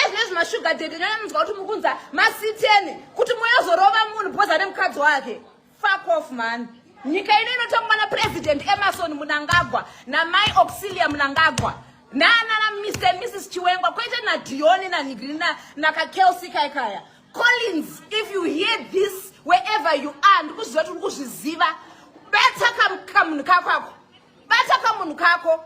ezvinezvi mashuga dede nyaya munzwa kuti mukunza masiteni kuti moyozorova munhu because ane mukadzi wake fuck off mani nyika ino inotongwa napresident emerson munangagwa namai auxilia munangagwa nanana mr and mrs chiwengwa kwete nadioni nanigiri nakakelsi kai kaya collins if you hear this wherever you are ndikuzviziva kuti uri kuzviziva bata kamunhu kako ako bata kamunhu kako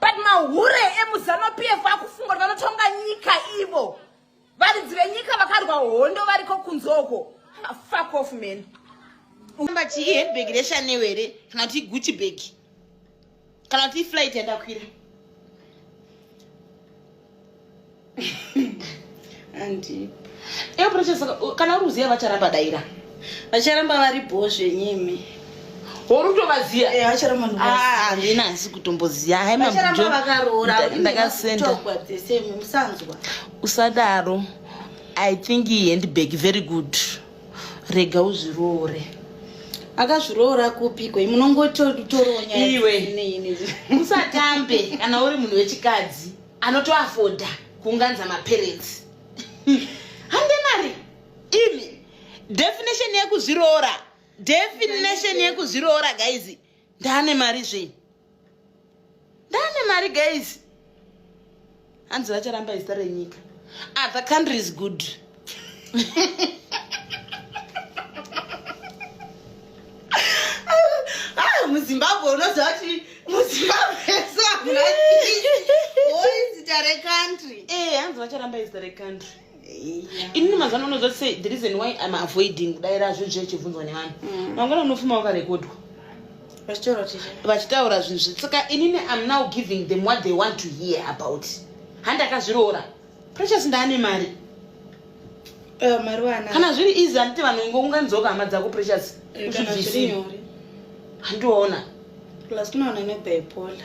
but mahure emuzanupf akufunga kuti vanotonga nyika ivo varidzi venyika vakarwa hondo variko kunzoko ah, fuck off man amba chii handbag reshaneo here kana kuti gucci bag kana kuti iflight yandakwira andi iwe precious kana uri kuziva vacharamba daira vacharamba vari bho zvenyimi hori kutovaziva eh, vacharamba ah, handina hasi kutomboziva haimavacharamba vakaroora ndakasenda musanzwa usadaro i think handbag very good rega uzviroore akazviroora kupiko munongotoronya iwe usatambe kana uri munhu wechikadzi anotoafoda kuunganza maparents hande mari imi definition yekuzviroora definition yekuzviroora guys ndaane mari zvenyu ndane mari guys hanzi vacharamba izita renyika other ah, country is good ah, muzimbabwe unoziva kuti muzimbabwe soaoizita recountry eh, hanzi vacharamba izita recountry inini mazano unoziva kuti the reason why im avoiding kudaira zvinhu zviya chibvunzwa nevanhu mm. mangwana unofuma wakarekodwa vachitaura zvinhu zvi saka inini im now giving them what they want to hear about handakazviroora precious ndaane mari eh, kana zviri easy handiti vanhu ingo unganzoka hama dzako precious eh, usvibvisi handiona plus kunoona nebaipola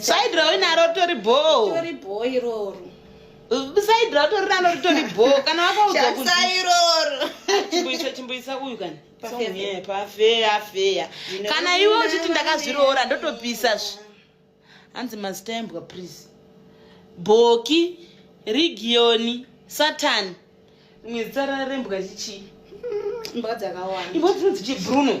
side rau inaro ritori bhoo side rau tori naro ritori bhoo kana wakaudzakuisa chimbuisa uyu kani pafeya feya kana iwe uchiti ndakazviroora ndotopisa zvi hanzi mazitaimbwa please bhoki rigiyoni satani mwedzi tsara rembwa chichii mbwa dzakawanda imbwa dzinonzi chibruno